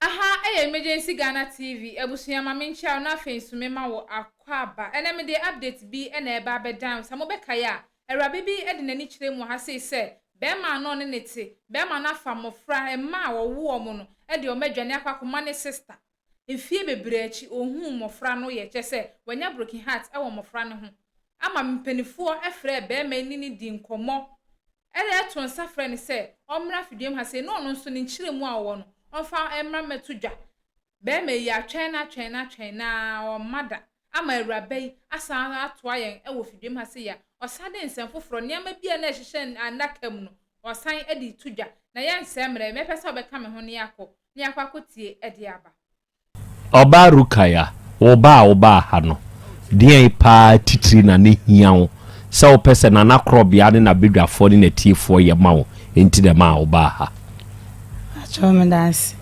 Aha yɛ Emergency Ghana TV, abusua ma me nkyia wo na afei nso me ma wo akwaaba. Ɛnɛ me de update bi na ɛreba abɛdan wo. Sɛ mo bɛkae a, awuraba bi de n'ani kyerɛ mu wɔ ha sei sɛ, bɛɛma a na ɔne ne te, bɛɛma no afa mmɔfra, mma a ɔwo wɔn no, de wɔn adwane akɔ akɔma ne sister. Mfie bebree akyi ohuu mmofra no yɛ, kyerɛ sɛ, wanya broken heart wɔ mmofra no ho, ama mpanimfoɔ frɛɛ barima yi ne no dii nkɔmmɔ de too nsa frɛɛ no sɛ ɔmmra Fiduam ha sei na ɔno nso ne nkyerɛmu a ɔwɔ no ɔmfa mmra mmɛto dwa. Barima yi, atwɛn no atwɛn no atwɛn no ara ɔmma da, ama awuraba yi asan atoa yɛn wɔ Fiduam ha sei a, ɔsan de nsɛm foforɔ, nneɛma bi a na ɛhyehyɛ adaka mu no, ɔsan de reto dwa. Na yɛnsɛe mmerɛ, mɛpɛ sɛ wobɛka me ho na yɛakɔ. ne akwakotie de aba. Ɔbaa Rukaya, wo ba a wobaa ha no, deɛn paa titire na na ɛhia wo sɛ wopɛ sɛ Nanakorɔbea ne n'abadwafoɔ ne n'atiefoɔ yɛ ma wo nti na ɛmaa wobaa ha? Paatwoo meda ase.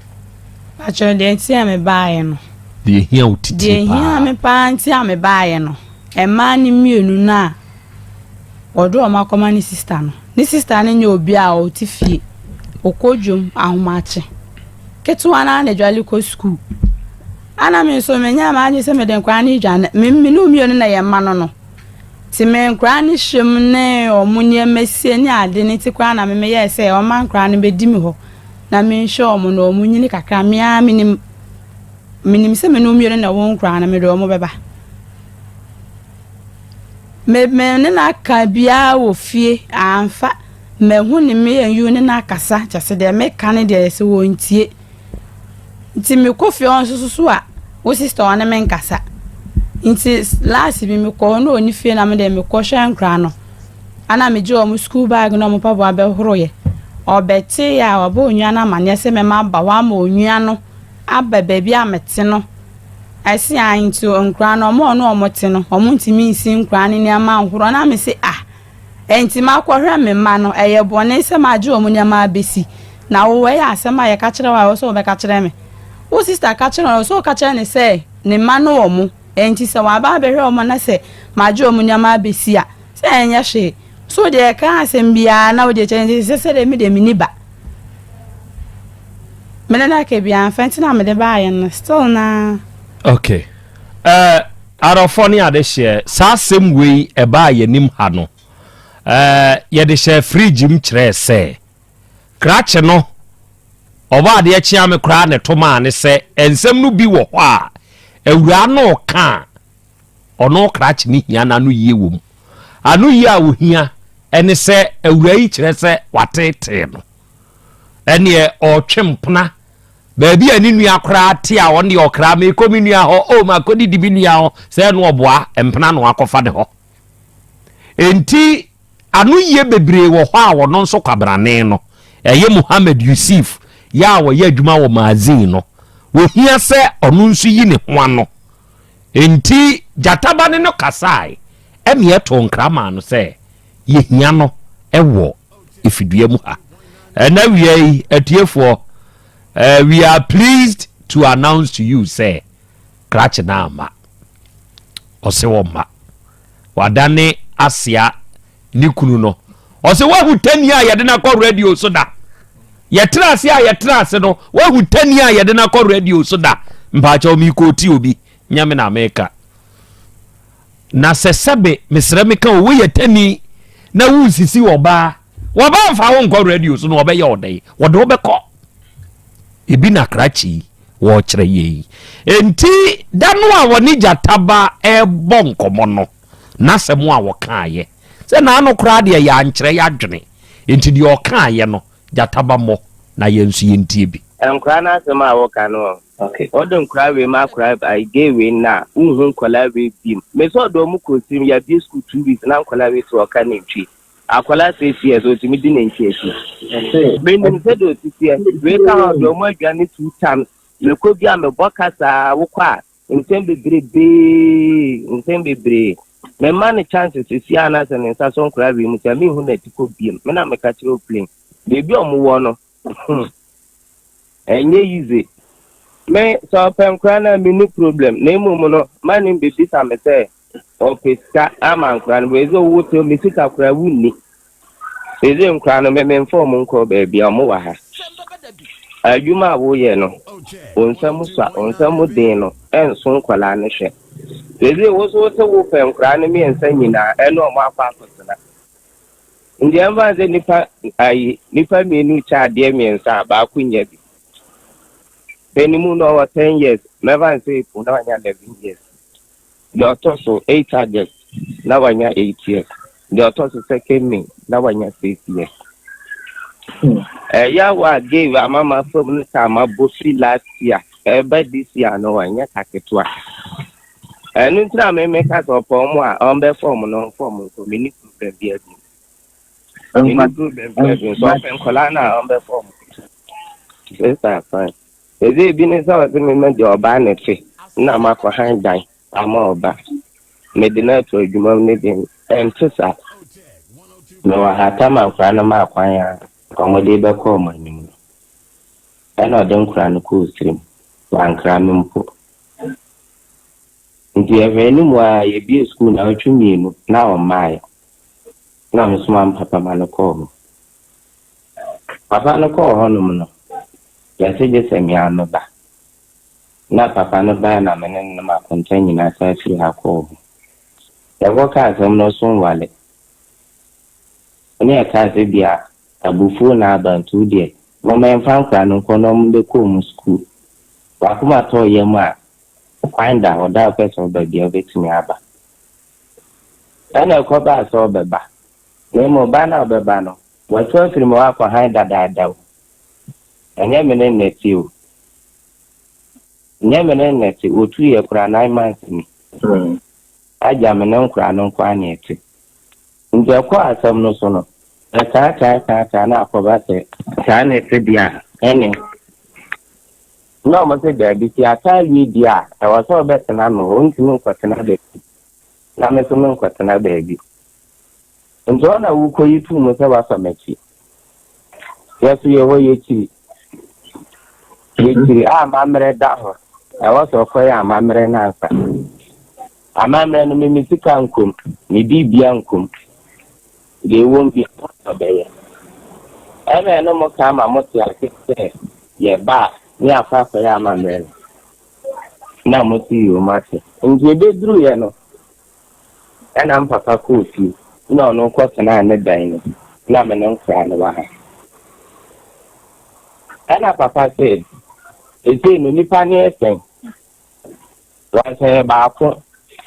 Paatwoo deɛ nti a mebaaeɛ no. Deɛ ɛhia wo titire paa. Deɛ ɛhia me paa nti a mebaaeɛ no, mmaa no mmienu no a. Wɔde wɔn akɔma ne sista no. Ne sista no nyɛ obi a ɔte fie. Ɔkɔ dwam ahomakye. Ketewa no ara na adwale kɔ sukuu. Ana me nso menyɛ ama agye sɛ mede nkwadaa no redwane. Me me ne mmienu na yɛn mma no no. Nti me nkwadaa no hyɛm ne wɔn nneɛma sie ne ade no nti koraa na me meyɛɛ sɛ wɔma nkwadaa no bɛdi me hɔ na menhwɛ wɔn na wɔn nyini kakra. Me ara menim menim sɛ me ne mmienu na wɔn nkwadaa no mede wɔn bɛba. Me me ne no aka biara wɔ fie amfa mahu ne me yɛn ne no akasa kyɛ sɛ deɛ meka ne deɛ sɛ wɔntie nti mekɔ fie hɔ nso so a wo sister ɔne me nkasa nti last bi mekɔ hɔ na ɔni fie na me deɛ mekɔ hwɛ nkora no ana megye wɔn school bag na wɔn mpaboa bɛhoroyɛ ɔbɛte a ɔbɛ onua no amaneɛ sɛ mɛma aba hɔ ama onua no aba baabi a mete no Ɛse ah nti nkoraa no ɔmo a ɔne ɔmo te no ɔmo ntumi nsi nkoraa no nneɛma nhorɔ na mese ah ɛnti makɔhwɛ me mma no ɛyɛ bɔne sɛ magye ɔmo nneɛma abɛsi na wo wei asɛm a yɛka kyerɛ wo a ɛwɔ sɛ wobɛka kyerɛ me wo sista ka kyerɛ no ɛwɔ sɛ woka kyerɛ no sɛ ne mma no ɔmo ɛnti sɛ waba abɛhwɛ ɔmo na sɛ magye ɔmo nneɛma abɛsi a sɛ ɛnyɛ hwee so deɛ ɛka asɛm biara na wode kyerɛ nti sɛ sɛ deɛ me deɛ menni ba Me ne like bi anfa nti na mede baayɛ no still na. Okay. Ɛɛ eh, arɔfɔ ne ade hyɛ saa asɛm wei ɛbaa yɛn anim ha no. Ɛɛ eh, yɛde hyɛ fridge mu kyerɛɛ sɛ krakye no ɔbɔ adeɛ kyea me koraa ne to maa ne sɛ nsɛm no bi wɔ hɔ a awuraa no ka a ɔno krakye no hia no anoyie wɔ mu. Anoyie a ɔhia ne sɛ awuraa yi kyerɛ sɛ watetee no. Ɛneɛ ɔretwe mpena baabi a ne nua koraa te a ɔno deɛ ɔkra mekɔ me nua hɔ o makɔdidi me nua hɔ sɛ ɛno ɔboa mpena no akɔfa ne hɔ. Enti anoyie bebree wɔ hɔ a ɔno nso kwabrane no ɛyɛ Muhammad Yusuf yɛ a ɔyɛ adwuma wɔ magazine no. Ɔhia sɛ ɔno nso yi ne ho ano Enti gyata ba ne no kasae, ɛnna ɛtoo nkra maa no sɛ, Yehia no wɔ fidua mu ha. Ɛnna awiei, atiefoɔ, we are pleased to announce to you sɛ krakye no amma. Ɔse ɔmma. Wadane Asia ne kunu no. Ɔsɛ wahu tani a yɛde no akɔ radio so da. Yɛtena ase a yɛtena ase no, wahu tani a yɛde no akɔ radio so da. Mpaakyɛw mi kɔ ti obi, nyɛ me na meka. Na sɛ sɛbe mesrɛ meka o, woyɛ tani na wonsisi ɔbaa. Wɔbaa mfa wo nkɔ radio so na wɔbɛyɛ ɔdɛn? Wɔde wobɛkɔ. Ebi na krakye yi wɔkyerɛ yɛ yi. Enti da no a wɔne gyataba ɛbɔ nkɔmmɔ no, N'asɛm a ɔkaeɛ. Sɛ n'ano koraa deɛ yɛankyerɛ yɛadwene, enti deɛ ɔkaeɛ no, gyata ba mmɔ, na yɛn nso yɛntie bi. Nkwadaa no asɛm a woka no ɔ. Ok ɔde nkwadaa wei ma akwadaa bi ai gay wei no a wonhu nkwadaa wei bim me sɛ ɔde ɔmo kɔ sim yɛabie school two weeks na nkwadaa wei sɛ ɔka nantwie akwadaa six years ɔtumi di nantwie akyi menim sɛ deɛ ɔsiteɛ wei ka ho ɔde ɔmo adwane two times mekɔ bi a mebɔ ka saa wokɔ a Mpɛn bebrebee, mpɛn bebree, memma no chance sesie anaasɛ ne nsa so nkora wiem sɛ menhu n'atikɔ biom. Me na meka kyerɛ Oplen. Baabi a ɔmo wɔ no, hmm, ɛnyɛ yize. Me, sɛ ɔpɛ nkora no a, menni problem, na mmom no, ma no mbebisa me sɛ Ɔpɛ sika ama nkwadaa no, ɛsɛ ɔwɔ sɛ me sika koraa wonni. Ɛsɛ nkwadaa no mememfa wɔn nkɔ baabi a wɔn wɔ ha. Adwuma a woyɛ no, wo nsam sua, wo nsam den no, ɛnso nkwadaa no hwɛ. Ɛsɛ wo so sɛ wopɛ nkwadaa no mmiɛnsa nyinaa ɛne wɔn akɔ akɔtena. Ndeɛ mfa sɛ nipa ayi nipa mmienu kyɛ adeɛ mmiɛnsa a baako nyɛ bi. Bɛnimu na ɔwɔ ten years, mɛfa sɛ eku na ɔnya eleven years. Deɛ ɔtɔ so eight August na wanya eight years. Deɛ ɔtɔ so second May na wanya six years. Ɛyɛ awa a gay wɔ amama fam no taa ma bɔ fi last year ɛba this year no ɛnyɛ ka ketewa. Ɛno nti na meme ka sɛ ɔpɛ ɔmo a ɔmbɛ fɔm no ɔmfɔm nso me ni problem bi adi. Me ni problem bi adi nso ɔpɛ nkɔla no a ɔmbɛ fɔm. Sister fine. Dze bi ne sɛ ɔdze me ma gya ɔbaa ne fi na makɔ han dan ama ɔbaa. Medze no ato edwuma mu ne dze ɛnntse saa. Mowɔ ha ta ma nkora no maa kwan a nkɔmbɔdee bɛkɔ ɔmo enyim no. Nna ɔdze nkora no kɔɔ sir mu, ɔannkra me mpo. Ntsi yɛhwɛɛ no mu ara yebue skuul naawɔtwe mienu na ɔmmaae. Nna mesoma me papa ma no kɔɔ hɔ. Papa no kɔɔ hɔnom no, yɛse gye sɛ me ara meba. Na papa no bae na me ne no nam akonta nyinaa san firi ha kɔɔ hɔ. Yɛkɔkaa asɛm no so nwale. Ɛnna yɛkaa sɛ ebia abufuo na aba nti wo deɛ momma yɛmfa nkwadaa no nkɔ na wɔmmɛkɔ wɔn sukuu. W'akoma tɔɔ yam a, kwan da hɔ, da a wopɛ sɛ woba biara wobɛtumi aba. Ɛnna ɛkɔbaa sɛ ɔbɛba. Na mmom ba no a ɔbɛba no, Wɔatu afiri mu akɔ hann dadaada o, ɛnyɛ me ne nnɛte o, ɛnyɛ me ne nnɛte, wɔtuu yɛ koraa nine months ni, agya me ne nkoraa no nko ara na ɛte. Nti ɛkɔɔ asɛm no so no, ɛkaa kaa kaa kaa na akɔba sɛ. Saa na ɛte deɛ a, ɛne? Na wɔn se daabi, sɛ yɛaka awie deɛ a, ɛwɔ sɛ ɔbɛtena ano, ɔntumi nkɔtena baabi, na me nso menkɔtena baabi. Nti hɔ na wo kɔyi too mu sɛ woafa m'akyi? Yɛ so yɛ hɔ yɛkyiri yɛkyiri a amammerɛ da ho na ɛwɔ sɛ ɔkɔyɛ amammerɛ no ansa. Amammerɛ no me me sika nkom, me biribia nkom, deɛ ɛwom bia ɛwɔ sɛ ɔbɛyɛ. Ɛna ɛno mo ka ama mo te ase sɛ yɛ ba a ne akɔ akɔyɛ amammerɛ no na mo te yom ase. Nti ɛbɛduruiɛ no Ɛna me papa kɔɔ fie na ɔno kɔ tenaa ne dan mu na me no nkra no wɔ ha. Ɛna papa se, Sesei no nipa no yɛ sɛn? Wansa yɛ baako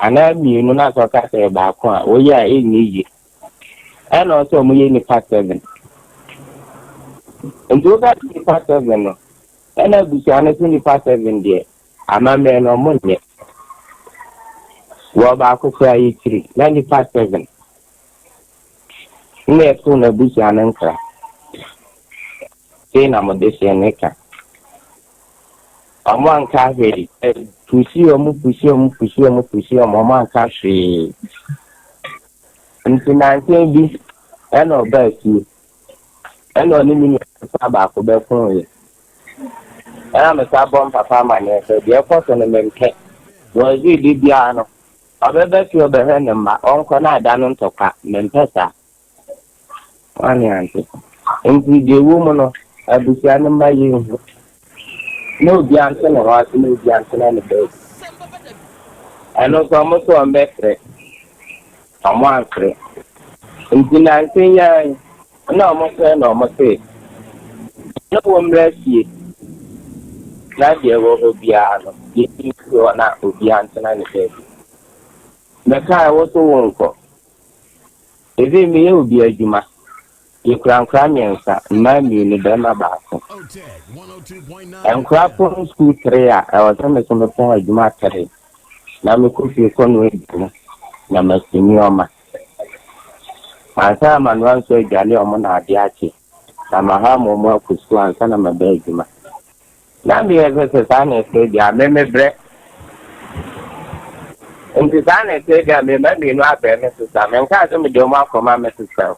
anaa mmienu na sɛ ɔka sɛ yɛ baako a woyɛ a ɛnyɛ yie. Ɛna ɔsɛ ɔmo yɛ nipa seven. Nti wobɛka nipa seven no ɛna abusua no se nipa seven deɛ Amammerɛ no ɔmo nyɛ. Wɔ baako koraa yɛ kyiri na nipa seven na ɛto n'abusua no nkra sei na mo dehyeɛ no ka. Ɔmo anka hwee ɛ pusi ɔmo pusi ɔmo pusi ɔmo pusi ɔmo ɔmo anka hwee nti nansa bi ɛna ɔbaa fie. Ɛna ɔne me nua ketewa baako bɛkoeɛ. Ɛna metaa bɔ me papa amanneɛ sɛ, deɛ ɛkɔ so no mempɛ. Wɔse da biara no, ɔbɛba fie ɔbɛhwɛ ne mma, ɔnkɔ na ada no ntɔkwa. Mempɛ saa. Wo a ne ante. Enti deɛ ɛwɔ mu no, abusua no mma yɛnhu. Mo bia nte ne ho ase mo bia ntena ne baabi ɛno nso ɔmo se ɔmo bɛfrɛ ɔmo anfrɛ nti nanse nyaa yi na ɔmo frɛ na ɔmo se na wɔ mmra fie na deɛ wɔ hɔ biara no yɛsi nsi hɔ na obia ntena ne baabi mɛkae wo so wo nkɔ even meyɛ obi adwuma Yɛkura nkora mmiɛnsa, mmaa mmienu, barima baako. Nkora pon sukuu three a ɛwɔ sɛ me so me pɔn adwuma three na me kɔ fie kɔ noa aduane na masi nneɛma. Mansan amanoa nso adwale wɔn na ade akye na maham wɔn akɔ sukuu ansa na maba adwuma. Na meyɛ sɛ sɛ saa na ɛte deɛ a, me mebrɛ. Nti saa na ɛte deɛ a, me mma mmienu abrɛ me sesa. Menkaa sɛ mede wɔn akɔma me sesa o.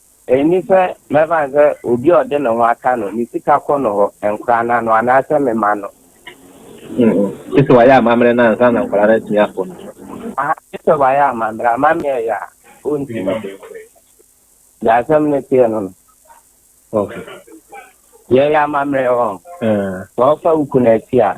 Ɛnni sɛ mɛfa no sɛ obi a ɔde ne ho aka no, ne sika kɔ no hɔ, nkwadaa no ano, anaasɛ me mma no. Gye sɛ wayɛ amammerɛ no ansa na nkwadaa no atumi akɔ no hɔ. Ahaa, gye sɛ wayɛ amammerɛ. Amammerɛ a ɛyɛ a, ɔntumi. Deɛ asɛm no teɛ no no. Ok. Yɛyɛ amammerɛ, ɔɔ. Sɛ ɔfa wo kunu akyi a,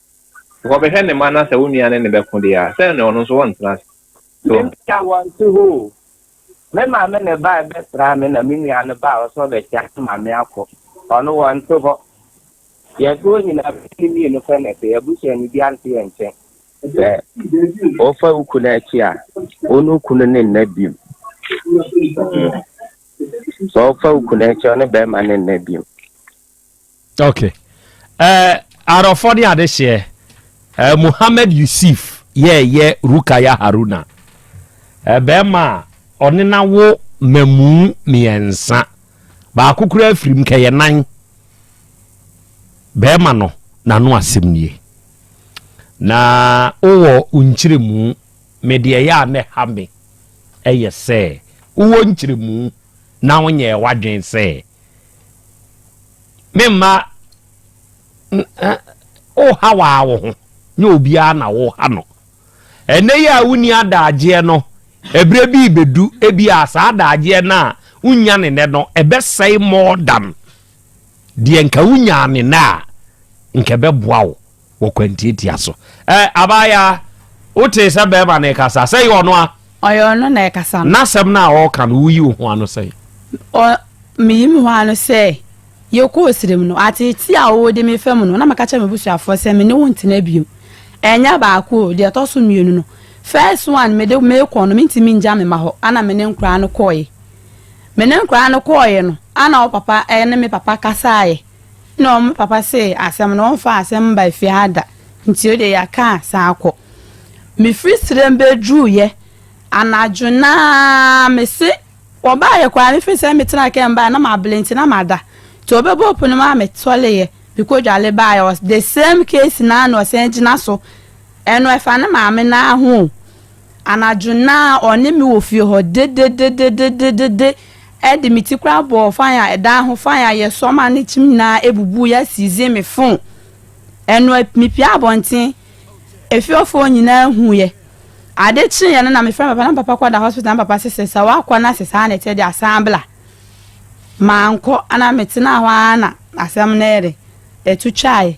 Sɛ ɔbɛhwɛ ne mma na sɛ wo nua ne no bɛko deɛ a, sɛn na ɔno nso ɔrentena ase? So Me ɔho? nua wɔnte hɔ o. Me maame na ɛbae bɛsraa me na me nua no bae ɔsɛ ɔbɛkyea me maame akɔ. Ɔno wɔnte hɔ. Yɛto hɔ nyinaa bɛyɛ ne mmienu pɛ na ɛte. Yɛn abusuani biara nte yɛn nkyɛn. Sɛ wofa wo kunu akyi a, wo ne wo kunu ne nna bio. Sɛ wofa wo kunu akyi a, wo ne bɛrima ne nna bio. Ok eh Arɔfɔ ne adehyeɛ eh Mohammed Yusif yɛɛ yɛ Rukaya Haruna eh bɛɛma a ɔne na wo mamuu miɛnsa baako koraa firim kɛ yɛ nan bɛɛma no na no asem nie na wo wɔ wo nkyeremu me deɛ ɛyɛ a na ɛha me ɛyɛ sɛ wo wɔ nkyeremu na wo nyɛɛ wadwen sɛ Me mma woha waa wo ho nyɛ obiara na woha no ɛnɛ yi a wonni adagyeɛ no ɛberɛ bi bɛdu ebi a saa adagyeɛ no a wonya ne nɛ no ɛbɛsɛe more than deɛ nka wonyaa ne nɛ a nka ɛbɛboa wo wɔ kwantiatia so. Ɛ, abaayaa, wotee sɛ bɛrima no rekasa? Sɛ ɛyɛ ɔno a. Ɔyɛ ɔno na ɛkasa no. N'asɛm no a ɔreka no, woyi wo ho ano sɛn? Ɔ, meyi me ho ano sɛ, Yɛkɔɔ serem no, ateetee a ɔwɔ di me fa mu no, na meka kyerɛɛ m'abusuafoɔ sɛ me ne wo ntena bio. Ɛnyɛ baako o, deɛ ɛtɔ so mmienu no, first one mede mekɔ no, mentumi nngya me mma hɔ, ɛna me ne nkwadaa no kɔeɛ. Me ne nkwadaa no kɔeɛ no, ɛna wo papa ne me papa kasaeɛ. Nna ɔmo papa see asɛm no ɔmmfa asɛm mmba fie ha da, ntsi ode yɛakã san akɔ. Mifir serɛ mu beduruuyɛ anadwo no ara, mese wɔbaayɛ koraa mefir serɛ mu metsenaa kɛɛ mu bae na maber ntsi na mada, ntsi wɔbɛbuee pon no maa mesoɛree mekodwale bae, ɔse the same case no ara na ɔsan gyina so, ɛno ɛfa ne maame no ara ho o. Anadwo no ara, ɔne me wɔ fie hɔ dedededededede de me ti koraa bɔɔ fan a ɛdan ho, fan a yɛsɔ ma ne kyim nyinaa bubui asizin me fon. Ɛno a, mipue abɔnten. Efiefo nyinaa huiɛ. Ade kyeeɛ no na mefrɛɛ me papa na me papa kɔda hospital na me papa se sɛ sɛ woakɔ na sɛ saa na ɛteɛ deɛ a san bla. Mankɔ na metenaa hɔ ara na asɛm no ɛde ɛto twaeɛ.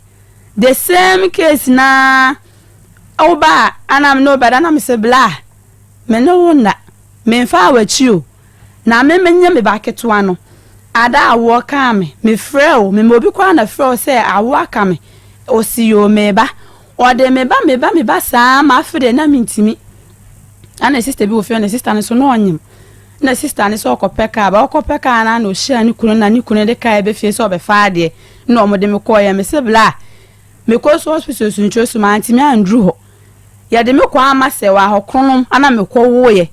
The same case no ara. Wo ba a, ana me ne wo bɛda? Na mese, Bla, me ne wo nna. Memfaa w'akyi o. Na me menye me ba ketewa no. Ada a woɔ kaa me. Mefrɛɛ wo. Mema obi koraa na frɛ wo sɛ awo aka me. Ose, Yoo, me ba. Ɔde me ba, me ba, me ba saa ara ma afe deɛ na mentumi. Na ne sista bi wɔ fie hɔ, ne sista no nso na ɔnyem. Na sista no sɛ ɔkɔpɛ kaa ba. Ɔkɔpɛ kaa no a na ɔhyia ne kunu na ne kunu de kaeɛ ba fie sɛ ɔbɛfa adeɛ na wɔde me kɔeɛ. Mese, Bla, Mekɔɔ so hospital sunturo so, mantumi anduru hɔ. Yɛde me kɔɔ Amasɛw a hɔkronom ana mekɔwoeɛ.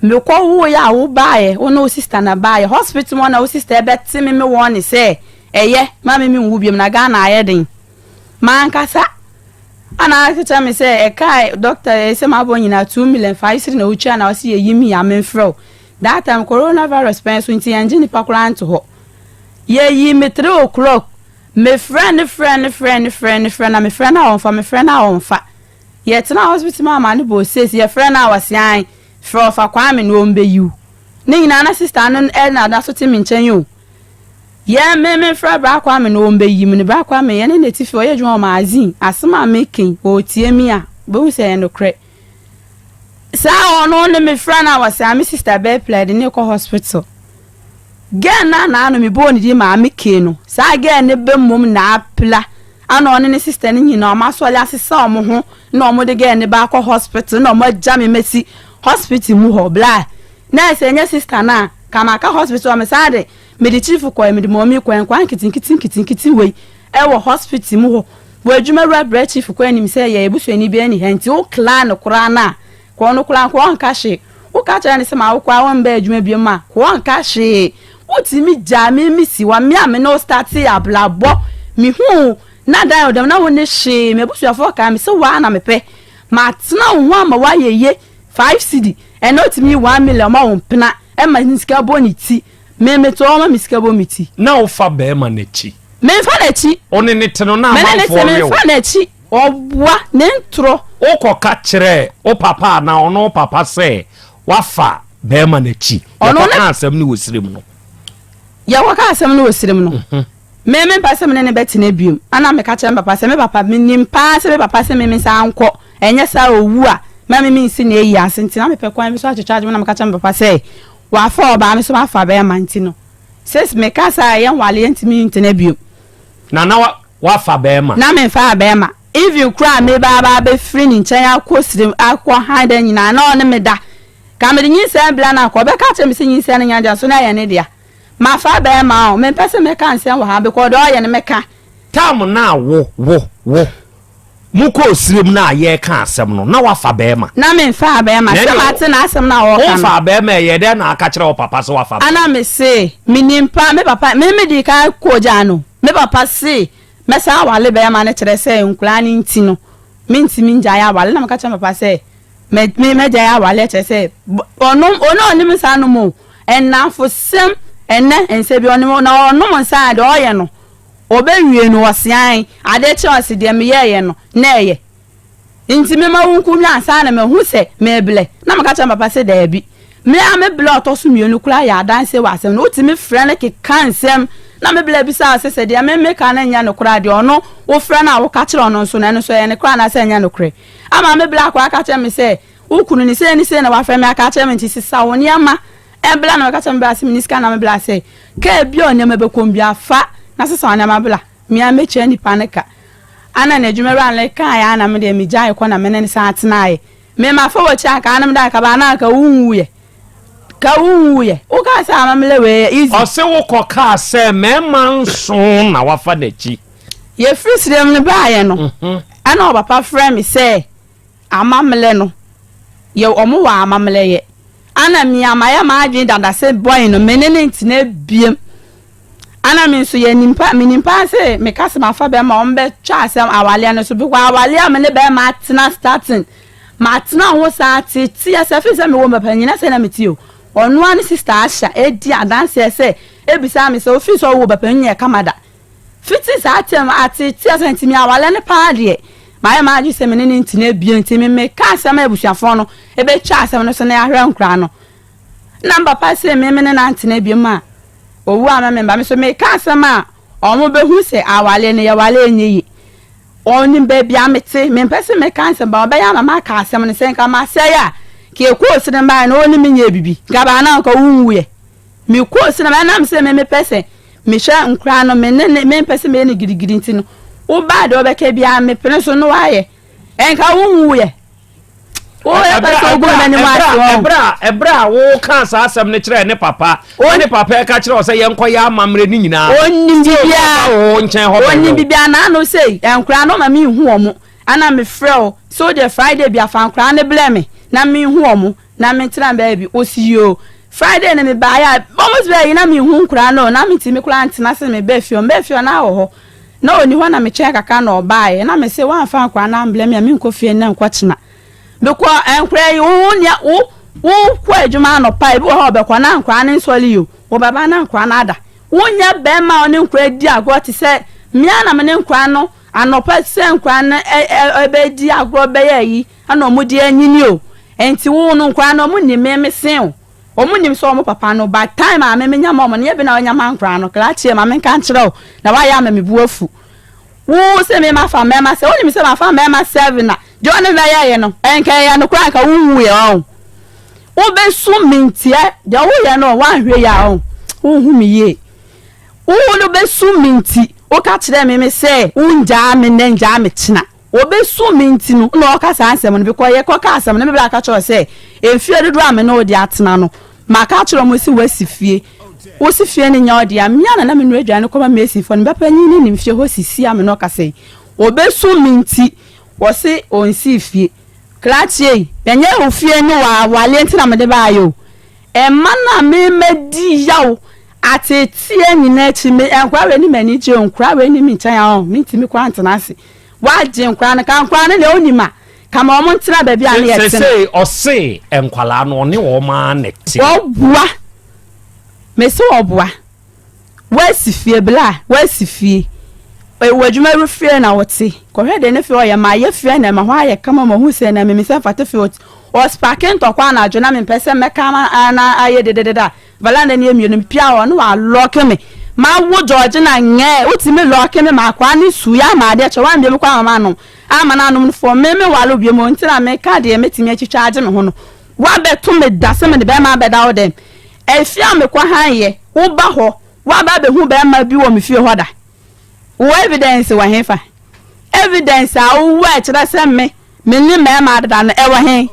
Mekɔwoeɛ a wobaeɛ, wo ne wo sista na baeɛ. Hospital mu hɔ na wo sista ɛbɛte me me wɔɔne sɛ, ɛyɛ, mma me menwu biom, na Ghana ayɛ den. Mankasa ana aka kyerɛ me sɛ, ɛkaa dɔkta ɛɛ sɛ mabɔ nyinaa two million, fa ayisiri na wotua na ɔse yɛyi me yi a, memfrɛ wo. That time, Coronavirus pɛn so nti yɛngye nnipa koraa nto hɔ. Yɛyii me three o'clock Me frɛ ne frɛ ne frɛ ne frɛ ne frɛ na me frɛ no a ɔnfa me frɛ no a ɔnfa yɛ tena hospital maa maa ne bɔ ɔsesi yɛ frɛ no a ɔse ae frɛ ɔfa kwame no ɔmbɛ yiw ne nyinaa na sister no ɛna da so te me nkyɛn o yɛ me me frɛ bra kwame no ɔmbɛ yi me no bra kwame yɛ ne ne tifi ɔyɛ adwuma wɔ magazine asem a me ken ɔtie me a ɔbɛhu sɛ ɛyɛ nokorɛ. Saa hɔ no ne me frɛ na wɔsɛ a me sista bɛɛ pla de ne kɔ hospital. Gɛɛ no anaa no me bɔɔ ne din maame kee no. Saa gɛɛ no bɛ mmom na apla ana ɔne ne sista no nyina ɔmo asɔre asesa ɔmo ho na ɔmo de gɛɛ no bɛ akɔ hospital na ɔmo agya me mɛsi hospital mu hɔ bla nɛɛse ɛnyɛ sista no a ka maka hospital ɔmo saa de Mede kyifo kɔe, mede Mɔmee kɔe, nkwaa nketenkete nketenkete wei wɔ hospital mu hɔ. Wɔ adwuma wura brɛ kyifo kɔ anim sɛ yɛyɛ busuani bi ɛni hɛ nti wo kla no koraa no a kɔ no koraa nko ɔnka hwee. Wo ka kyerɛ no sɛ ma wo kɔ a wo mbɛ adwuma biom a kɔ ɔnka hwee. Wo tumi gyaa me me si hɔ. Me a me ne wo startee abrabɔ me huu wo na dan wo dɛm na wo ne hwee. M'abusuafoɔ kae me sɛ wo ara na me pɛ. Ma tena wo ho ama wo ayɛ yie. Five cedi ɛnɛ otumi yi one million ma wo mpena ɛma ne sika bɔ ne ti. Me me to hɔ ma me sika bɔ me ti. Na wo fa bɛɛma no akyi. Me nfa n'akyi. O ne ne te no na amanfoɔ we o. Me ne ne te me nfa n'akyi. Ɔboa ne ntorɔ. O kɔ ka kyerɛ o papa anaa ɔno wo papa sɛ wa fa bɛɛma no akyi. Yɛ kɔ ka asɛm no wɔ sirem no. Yɛ kɔ ka asɛm no wɔ sirem no. Me me mpɛ sɛ me ne no bɛ tena biom. Ana me ka kyerɛ me papa sɛ me papa me nim paa sɛ me papa se me me nsa nkɔ ɛnyɛ saa owu a ma me me nsi ne ayi ase nti na me pɛ kwan bi so akyekye adwene na me ka kyerɛ me papa sɛ Wɔafa ɔbaa no so afa bɛrima nti no sis meka saa a yɛnwale yɛntumi ntena biom. Na na woafa bɛrima. Na mefaa bɛrima even koraa a meba aba abɛfiri ne nkyɛn akɔ srem akɔ han da nyinaa na ɔne me da ka mede nyinsɛn bla no a ka ɔbɛka akyerɛ me sɛ nyinsɛn no nyɛ dea so na ɛyɛ ne dea mafa bɛrima o mempɛ sɛ mɛka nsɛm wɔ ha because deɛ ɔyɛ no meka. Time no a wo wo wo Mokɔɔ serem no a yɛreka asɛm no, na woafa barima. Na memfaa barima, sɛ mate n'asɛm no a ɔreka no. Womfaa barima a, ɛyɛɛ dɛn na woaka kyerɛɛ wo papa sɛ woafa barima? Ɛnna mese, Mennim paa, me papa, me medii kan kogyaa no. Me papa se mɛsan aware barima no, kyerɛ sɛ nkwadaa no nti no, mentumi ngyae aware. Ɛnna meka kyerɛɛ me papa sɛ, Me, me, mɛgyae aware, kyerɛ sɛ, ɔno, ɔno a ɔnim nsa nom o, nnamfosɛm, ɛnnɛ, nsɛ bi, ɔnom, na ɔnom nsa a, deɛ ɔyɛ no, Ɔbɛwie no, ɔseae adeɛ kyerɛɛ ɔse, Deɛ meyɛeɛ no, na ɛyɛ nti mema wo nku nnwan saa na mahu sɛ mereblɛ na meka kyerɛɛ me papa sɛ daabi. Me ara me blɛ a ɔtɔ so mmienu koraa yɛ adanseɛ wɔ asɛm no ho. Wotumi frɛ no keka nsɛm na me blɛ abisa wo sɛ, sɛ deɛ me meka no nyɛ nokorɛ a, deɛ ɔno wofrɛ no a woka kyerɛ ɔno nso no, ɛno nso ɛyɛ nokorɛ anaasɛ ɛnyɛ nokorɛ? Ama me blɛ akɔ aka kyerɛ me sɛ, Wo kunu no, sei ne sei na wafrɛ me aka akyerɛ me nti sesa wo nneɛma Ɛn bla na ɔkasa me bla se me ni sika na me bla sɛ car bia ɔne me bɛkɔm bia fa na sesa wo nɛma bla me a mɛtua nipa no ka ana na adwuma wura no like kaeɛ ana me deɛ me gyae kɔ na me ne no san tenaeɛ me ma fa wakyi anka ana me da anka ba ana anka wo nwuiɛ ka wo nwuiɛ wo kaa sɛ ama me lɛ wei yɛ easy ɔse wo kɔ kaa sɛ mɛma nso na wafa n'akyi yɛfiri srem no baeɛ no ɛna ɔpapa frɛ me sɛ Amammerɛ no yɛ wɔn wɔ amammerɛ yɛ. Ana mia mayɛ m'adwene dada se bɔn no mene no ntena biem. Ana me nso yɛ nimpa menim paa se meka se mafa bɛɛma a wɔn bɛ twa asem awaleɛ no so because awaleɛ a mene bɛɛma atena starting matena ho saa teteɛ sɛ firi sɛ mewɔ mapa nyina sɛ na me te o. Ɔno ara ne sister Asha edi adanseɛ sɛ ebisaa me sɛ ofiri sɛ ɔwɔ bapa nyɛ kama da. Fitsi saa tsɛm no, atseetsee ase na ntsi mi'awar no paa deɛ, mayɛ m'adwen sɛ me ne no ntsena bio, ntsi me mekaa asɛm a ebusuafɔn no ebetwa asɛm no so na yɛahwɛ ankura no. Nna me papa see me me ne no anntsena bio ma owu amma me mba, me so mekaa asɛm a wɔn behu sɛ awaree no yɛwaree nnyɛ yie. Wɔnim beebi a metse, memmpɛ se meka nsɛm paa, ɔbɛyɛ ama m'aka asɛm no, sɛ nka masɛe a, nka ekɔɔ sene mbaeɛ no, wɔne me nyɛɛ bibi, nka baa no a nka wonwuiɛ. Mekɔɔ cinema no ɛnam sɛ me mepɛ sɛ mehwɛ nkoraa no me ne ne mempɛ sɛ meyɛ no gidigidi nti no wobaa deɛ wobɛka biara mepene so na woayɛ ɛnka wonwuiɛ woyɛ pɛ sɛ wogu m'anim ase wɔn. ɛberɛ a woka saa asɛm no kyerɛɛ ne papa ne papa ɛka kyerɛ wɔ sɛ yɛnkɔ yɛ amammerɛ ne nyinaa ɔnim bibiara wo nkyɛn hɔ ɔnim bibiara na ano sei nkoraa no ma menhu wɔn ana mefrɛ o so deɛ friday bi afa nkoraa no blɛ me na menhu wɔn Na me tena baabi osi o Friday na me baa yɛ a bɔ mo bɛɛ yi na me hu nkura no na me ti me kura ntena se me bɛɛ fie o me bɛɛ fie o na wɔ hɔ na oni hɔ na me kyɛn kakra na ɔbaa yɛ na me se wa nfa nkura na mblɛ me a me nkɔ fie nnɛ nkɔ kyena me kɔ nkura yi wo wo nia wo wo kɔ adwuma anɔpa ebi wɔ hɔ ɔbɛ kɔ na nkura no nsɔli yi o wɔ bɛ ba na nkura no ada wo nya bɛɛ ma ɔne nkura di agorɔ te sɛ mea na me ne nkura no anɔpa sɛ nkura no ɛ ɛ ɔbɛ di agorɔ bɛyɛ yi Ɛna ɔmo deɛ anyini o ɛnti woo no nkoraa no ɔmo nim me me se o ɔmo nim sɛ ɔmo papa no by time a me me nya ma ɔmo no nyɛ bena ɔnya ma nkoraa no krakyeɛ ma me nka nkyerɛ wo na wayɛ ama me bo afu woo se me ma fa mmɛɛma sɛ wonim sɛ ma fa mmɛɛma seven a deɛ ɔne me bɛyɛ ye no nka ɛyɛ no koraa nka wo nwu yɛ ɔho wo bɛ su me ntiɛ deɛ wo yɛ no wa nhwɛ yie a ɔho wo hu me yie wo no bɛ su me nti wo ka kyerɛ me me sɛ wo ngyaa me nɛ ngyaa me kyena. Wɔbɛsum me nti no na ɔreka saa nsɛm no, bikɔ yɛ kɔka asɛm no, me bra ka kyerɛ wo sɛ, mfeɛ dodoɔ a me ne wo de atena no, maka akyerɛ wɔn se woasi fie, wo se fie no nyɛ wo dea, me a na na menoa aduane kɔma Masonfoɔ no, me papanin no nim fie hɔ sisi a me ne wo kasa yi, wɔbɛsum me nti, wɔse ɔnsii fie. Kra tie yi, ɛnyɛ wo fie ne w'awareɛ nti na mede baeɛ o, ɛma no a memɛdi yaw ateeteɛ nyinaa akyi, me nkora wei ne m'ani gye o, nkora wei nni me nkyɛn a ɔn, mentumi koraa ntena ase. W'agye nkwadaa no, ka nkwadaa no deɛ wonim a, ka ma wɔn ntena baabi a ne yɛ tena. Sesei ɔse nkwadaa no ɔne wɔn ara na ɛte. Wɔboa, mese wɔboa, woasi fie bla, woasi fie, ɛwɔ adwuma ru fie na wote, kɔhwɛ deɛ ne fie ɔyɛ ma ayɛ fie na ɛma hɔ ayɛ kama ma hu sɛ na mimi sɛ mfate fie ɔspake ntɔkwa anadwo na mempɛ sɛ mɛka na ayɛ dededede a, Bala na nie mmienu mepia hɔ na wa lɔke me ma wo Georgina nyɛɛ wo timi lɔke me ma akwaa ne su yɛ ama adeɛ kyɛ wambie me kɔ ama manom ama no anom no fɔɔ me me wale wo biom o nti na me ka deɛ me timi atwitwa agye me ho no wa bɛ to me da sɛ me ne bɛɛma bɛ da wo dɛm ɛfie a me kɔ han yɛ wo ba hɔ wa ba bɛ hu bɛɛma bi wɔ me fie hɔ da wo evidence wɔ he fa evidence a wo wɔ ɛkyerɛ sɛ me Me ne mmarima adeda no, ɛwɔ he?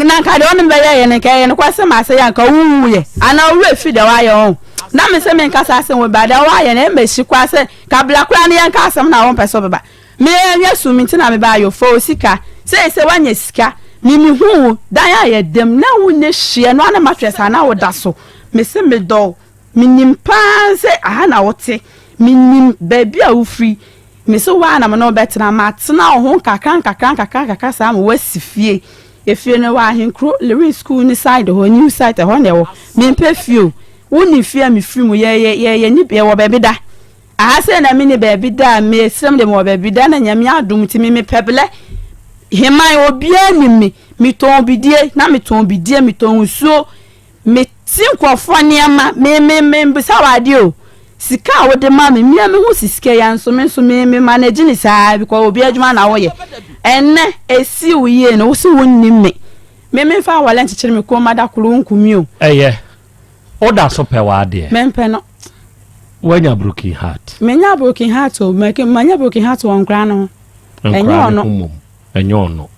Na anka deɛ ɔne me bɛyɛ yɛ no, anka ɛyɛ nokwasɛm a sɛ yɛ anka wonwuiɛ, anaa wo werɛ firi deɛ woayɛ ho. Na me se menka saa asɛm wei baa deɛ woayɛ no, ɛmma ɛsi koraa sɛ ka bra koraa na yɛnka asɛm no a wompɛ sɛ wobɛba. Me anhwɛ sum nti na mebaa yo, fa wo sika. Seesei woanya sika. Me mehuu wo, dan a yɛdam na wonni hyeɛ no ara na mattress a na woda so. Me se medɔ wo, menim pa ara sɛ aha na wote, menim baabi a wofiri. Mese wo ara na me ne wo bɛtena. Matena wo ho nkakrankakrankakrankakra saa ma woasi fie. Efie no wɔ Ahenkuro, Lewin School no side hɔ, New Site, ɛhɔ na ɛwɔ. Mempɛ fie o. Wonim fie a mefiri mu, yɛ, yɛ, yɛ, yɛnni, yɛwɔ baabi da. Aha sei na menni baabi da a, mesrɛ mo deɛ mewɔ baabi da na Nyame adom nti me, mepɛ blɛ. Heman, obiara nim me. Metɔn bidie, na metɔn bidie, metɔn nsuo. Me tie nkurɔfoɔ nneɛma, me me me bisa wo adeɛ o, sika a wo de ma me, mea me ho si sika yi anso me nso me me manage ne saa because obi adwuma na wo yɛ, ɛnnɛ ɛsi wo yie no wo se wo nnim me, me me nfa awale nkyekyere me kɔn mu ada koro wo nku me o. Ɛyɛ, wo da so pɛ w'adeɛ. Me mpɛ no. Wo anya broken heart. Me nya broken heart o, ma nya broken heart wɔ nkora no ho. Nkora no ho mom. Ɛnyɛ ɔno.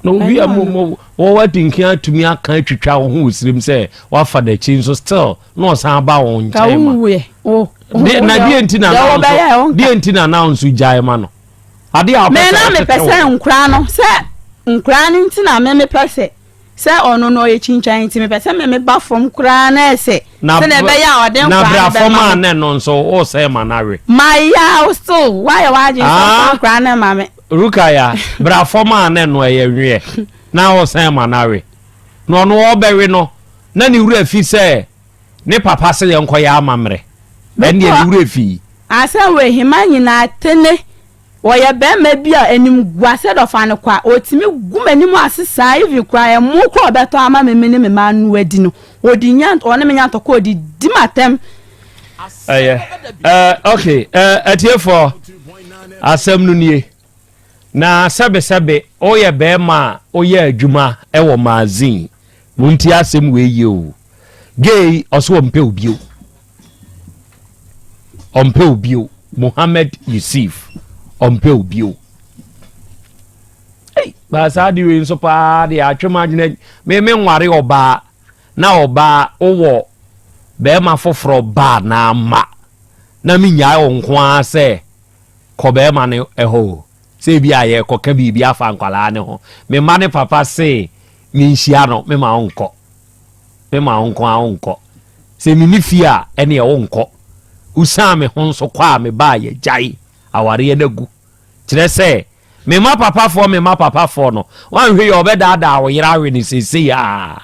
Na obi a wɔwɔ di nkan atumi aka atwitwa wo ho wɔ sirim sɛ wafa n'akyi nso still na ɔsan aba wɔn nkyɛn ma. Na deɛ nti na now nso deɛ nti na now nso gyae ma no. Adeɛ a ɔpɛ sɛ ɔtete wɔ. Mena mepɛ sɛ nkura no sɛ nkura no nti na me mepɛ sɛ Sɛ ɔno no ɔyɛ kyinkyan nti mepɛ sɛ meme ba fam koraa na ɛsɛ sɛdeɛ ɛbɛyɛ a ɔde nkwadaa no bɛma me. Na bra fam a na ɛno nso wosɛe ma no awe. Mayaw still woayɛ w'adwene sɛ ɔfa nkwadaa no ma me. Rukaya bra fam a na ɛno ɛyɛ nweɛ na wosɛe ma no awe. Na ɔno ɔrebɛwe no na ne wura fi sɛ ne papa sɛ yɛnkɔyɛ amammerɛ ɛnneɛ ne wura fi. Asɛm wei hema nyinaa tene. Ɔyɛ bɛɛma bi a animguase dɔ fa no kwa, ɔtumi gu m'anim ase saa even koraa ɛmo koraa ɔbɛtɔ ama me me ne me mma anoa adi no ɔdi nya ɔne me nya ntɔkwa ɔde di m'atɛm. Ɛyɛ eh ok eh atiefɔɔ asɛm no nie na sɛbe sɛbe woyɛ bɛɛma a woyɛ adwuma ɛwɔ magazine montie asɛm wei yie o gay ɔse ɔmpɛ wo bio. ɔmpɛ wo bio mohammed yusuf ɔmpɛ wo bio ei baa saa de wei nso paa de atwe m adwene me me nware ɔbaa na ɔbaa wowɔ bɛrima foforɔ baa na ama na menyae wo nko ara sɛ kɔ bɛrima no ɛhɔ o sɛ ebi a yɛkɔka biribi afa nkwadaa ne ho me mma ne papa se menhyia no mema wo nkɔ Me maa wo nko ara wonkɔ. Sɛ menni fie a, ɛneɛ wonkɔ. Wosiaa me ho nso kɔ a mebaa yɛgyae awareɛ no agu. Kyerɛ sɛ, me mma papafoɔ me mma papafoɔ no, woanhwɛ yie a wɔbɛdaadaa wo yere awe no seesei ara.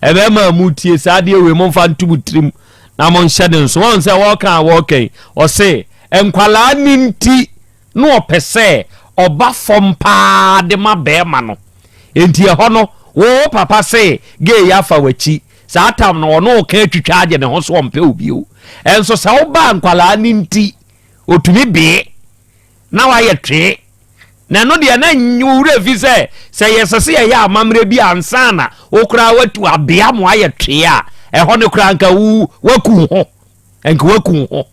Ɛbɛma a motie saa adeɛ wei momfa nto mo tirim na monhyɛ no nso. Woahu sɛ wɔreka a wɔreka yi, wɔse, Nkwadaa no nti na ɔpɛ sɛ ɔba fam paa de ma barima no. Enti ɛhɔ no, wo papa se gay yi afa w'akyi. Saa tam no, ɔne wo ka atwitwa agye ne ho so ɔmpɛ wo bio. Nso sɛ woba a, nkwadaa no nti, ɔtumi bee na wayɛ twee. Na ɛno deɛ, na nnye wo werɛ fi sɛ, sɛ yɛsɛ sɛ yɛyɛ amammerɛ bi ansa na wo koraa woatu abea ma wayɛ twee a, ɛhɔ no koraa anka wo, woaku wo ho. nka waku ho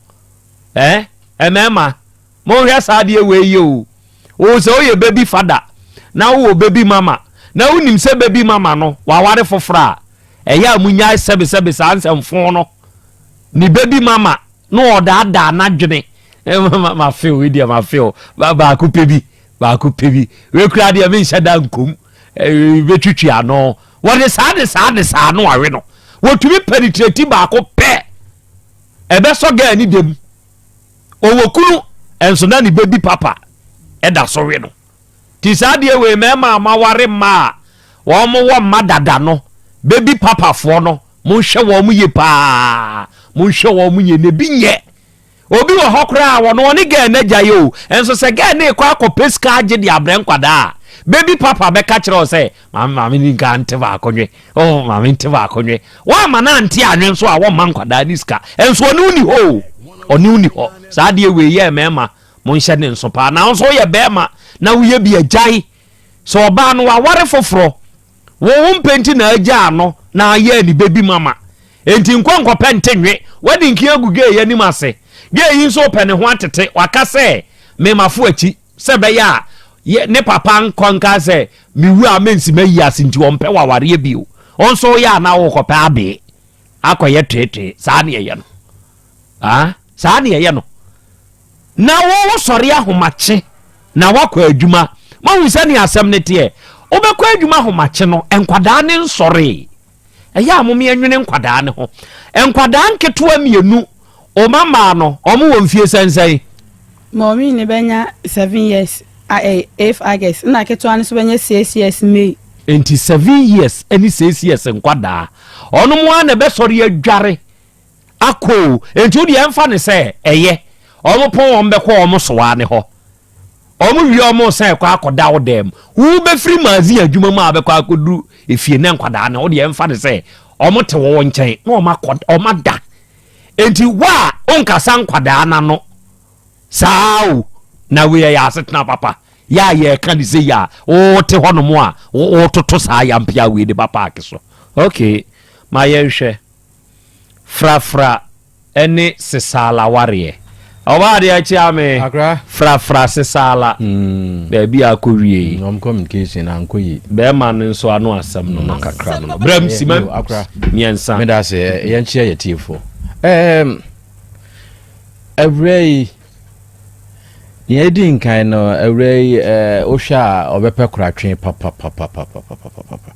eh mmarima monhwɛ saa adeɛ wei yɛ o o sɛ woyɛ baby fada na wowɔ baby mama na wonim sɛ baby mama no waware foforɔ a ɛyɛ a monyae sɛbesɛbe saa nsɛmfo no ne baby mama na ɔdaadaa n'adwene mafe o deɛ mafe o baako pɛ bi baako pɛ bi wekura deɛ menhyɛ da nkom bɛtwitwi ano Wɔde saa de saa de saa no awe no. Wɔtumi penetrate baako pɛ. Ɛbɛsɔ gaa ne dam. Ɔwɔ kunu nso na ne bɛbi papa ɛda so we no. Ti saa deɛ wei mɛma ama ware mma a wɔn wɔ mma dada no bɛbi papafoɔ no monhwɛ wɔn yie paa monhwɛ wɔn yie na ebi nyɛ Obi wɔ hɔ koraa a, ɔno ɔne gɛɛ no agyae o, nso sɛ gɛɛ no rekɔ akɔpɛ sika agye de abrɛ nkwadaa a, baby papa bɛka kyerɛ wo sɛ, Maame, maame ni nka nte baako nwe. Oh, maame nte baako nwe. Woamma no ante anwe nso a, wɔmma nkwadaa no sika. Nso ɔne wo nni hɔ o. Ɔne wo nni hɔ. Saa adeɛ wei yɛ mmarima, monhyɛ ne nso paa. Na wo nso woyɛ barima na woyɛ bi agyae. Sɛ ɔbaa no, waware foforɔ. Wo wo mpɛ nti na agyaa no na ayɛɛ ne baby mama enti nkɔ nkɔpɛ nte nwe w'adi nki agu gay anim ase gay yi nso pɛ ne ho atete waka sɛ me mafo akyi sɛ bɛyɛ a yɛ ne papa nkɔ nka sɛ me wu a mensi ma yi ase nti ɔmpɛ wawareɛ bio wo nso woyɛ a na wokɔpɛ abee akɔyɛ twee twee saa ne ɛyɛ no Aah saa na yɛyɛ no. Na wo wo sɔre ahomakye na woakɔ adwuma. Moahu sɛnea asɛm no teɛ? Wobɛkɔ adwuma ahomakye no, nkwadaa no nsɔree. Ɛyɛ a mo me nwene nkwadaa no ho. Nkwadaa nketewa mmienu, wo mma mmaa no, wɔn wɔ mfie sɛnsɛn? Maureen no bɛnya seven years eighth August, ɛna ketewa no nso bɛnya six years May. Enti seven years ne six years nkwadaa, wɔn ara na ɛbɛsɔre adware akɔ o enti wodeɛ ɛmfa no sɛ ɛyɛ wɔn pɔn wɔn bɛkɔ wɔn soa no hɔ wɔn wie wɔn san ɛkɔ akɔda wo dɛm wobɛfiri magazine adwuma mu a bɛkɔ akɔduru efie ne nkwadaa no wodeɛ ɛmfa no sɛ wɔn te wɔn nkyɛn na wɔn akɔ wɔn ada enti wo a wonkasa nkwadaa no ano saa o na wei yɛ asetena papa yɛ a yɛka ne sɛ yɛ a wote hɔnom a wototo saa yampea wei de ba paake so okay ma yɛnhwɛ Frafra ne Sesaala wareɛ. Ɔbaa adeɛ kyea me. Akra. Frafra Sesaala. Baabi a akɔ wie yi. Wɔn communication ankɔ yi. Bɛrima no nso ano asɛm no no kakra no. Brɛm sima mmiɛnsa. Meda ase yɛn kyea yɛ tiefo. Ɛɛm. Awura yi. Nea edi nkan no, awuraa yi, wohwɛ a ɔbɛpɛ koratwe papapapapapapapa.